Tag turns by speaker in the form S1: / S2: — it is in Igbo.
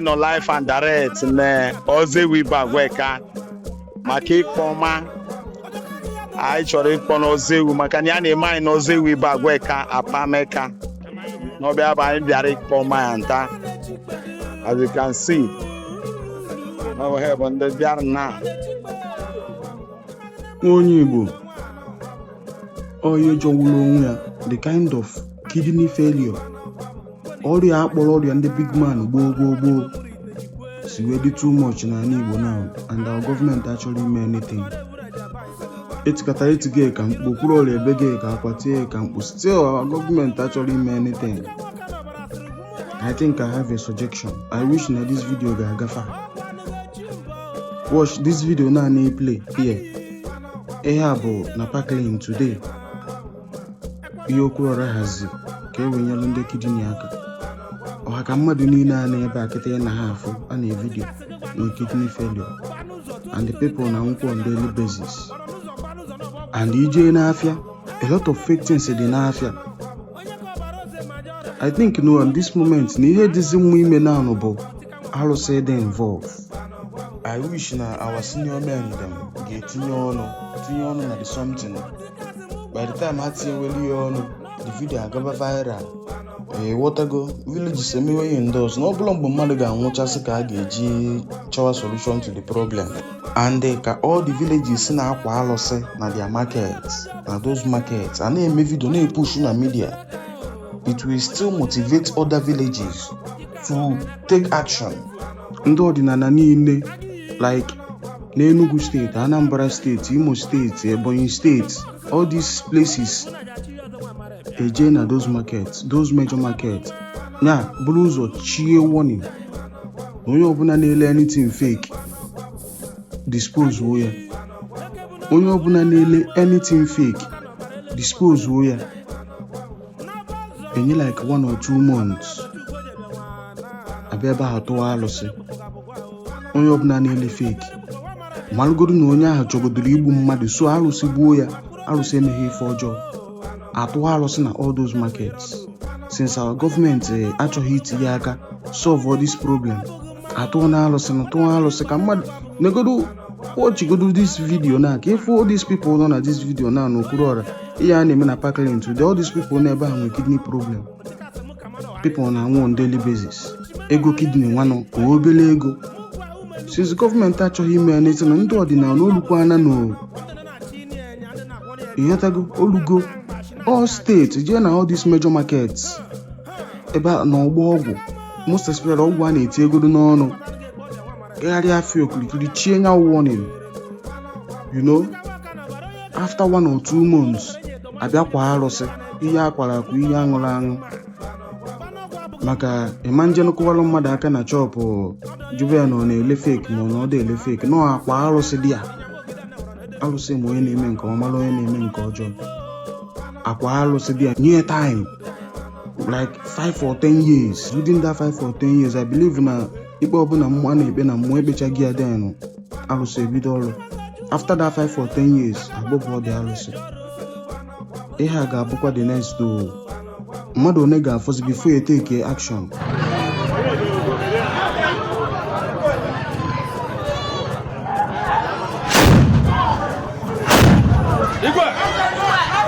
S1: nọ live and direct na Ozewu Ibagwa Eka maka ịkpọ ọma anyị chọrọ ịkpọ n'Ozewu maka na ya na-eme anyị n'Ozewu Ibagwa Eka Apameka n'ọbịa bụ anyị bịara ịkpọ ọma ya nta as you can see ọ bụ ha bụ ndị bịara
S2: na onye Igbo onye jọgburu onwe ya the kind of kidney failure ọrịa a kpọrọ ọrịa ndị big man gboo gboo gboo si wee dị too much n'ala Igbo now and our gọọmenti achọrọ ime anything etikata etige ka mkpu Okwuluora ebege ka akwa tie ka mkpu still our gọọmenti achọrọ ime anything i think i have a suggestion i wish na this video ga-aga far watch this video na anyị play here ihe a bụ na Parklane today ihe Okwuluora hazi ka e wee nyelụ ndị kidney aka ọ ha ka mmadụ niile a nọ ebe a kịta ị na-afụ a na vidio na kidney failure and the people na-anwụkwọ on daily basis and i jee n'afịa a lot of fake things dị n'afịa i think na at this moment na ihe dịzi mma ime naanụ bụ alụsị dị involved i wish na our senior men dem ga-etinye ọnụ tinye ọnụ na the something by the time ha tinyeweli ya ọnụ the video agaba viral ị ghọtago villages emewe ya endorse na ọ bụrọ mgbe mmadụ ga-anwụchasị ka a ga-eji chọwa solution to the problem and eh, ka all the villages si na-akwa alụsị na their markets na those markets a na-eme vidio na-epushu na media it will still motivate other villages to take action. Ndị ọdịnala niile like n'Enugu steeti, Anambra steeti, Imo steeti, Ebonyi steeti, all these places e jee na those markets, those major markets na buru ụzọ chie warning na onye ọbụla na-ele anything fake dispose o ya onye ọbụla na-ele anything fake dispose o ya e nye like one or two months a bịa ebe ahụ tụwa alụsị onye ọbụla na-ele fake malụgodu na onye ahụ chọgodoro igbu mmadụ so alụsị gbuo ya alụsị emeghị ife ọjọọ a tụwa alụsị na all those markets since our gọọmenti achọghị itinye aka solve all this problem atụọ na alụsị na tụọ alụsị ka mmadụ negodo watchgodo this video na ka ị fụ all these people nọ na this video na n'okpuru ọra ihe a na-eme na parklane today all these people n'ebe ahụ nwere kidney problem people na-anwụ on daily basis ego kidney nwanụ ọ obele ego since government achọghị ime anything ndị ọdịnala olukwana na ịghọtago olugo all state jee na all these major markets ebe a na ọgbọ ọgwụ most especially ọgwụ a na-eti egodo n'ọnụ gagharịa afịa okirikiri chie nya warning you know after one or two months a bịa kwa arụsị ihe akwara akwa ihe aṅụrụ aṅụ maka ị ma ejenụ kụwalụ mmadụ aka na shop jụba ya na ọ na-ele fake ma ọ na ọ dị ele fake no akwa arụsị dị ya arụsị ma onye na-eme nke ọma na onye na-eme nke ọjọọ akwa arụsị dị ya nye time like 5 or 10 years within that 5 or 10 years i believe na ikpe ọbụla mmụọ a na-ekpe na mmụọ ekpechago ya then arụsị ebido ọrụ after that 5 or 10 years agbọpụ ọ dị arụsị ihe a ga-abụkwa the next door mmadụ one ga-afọzi before you take action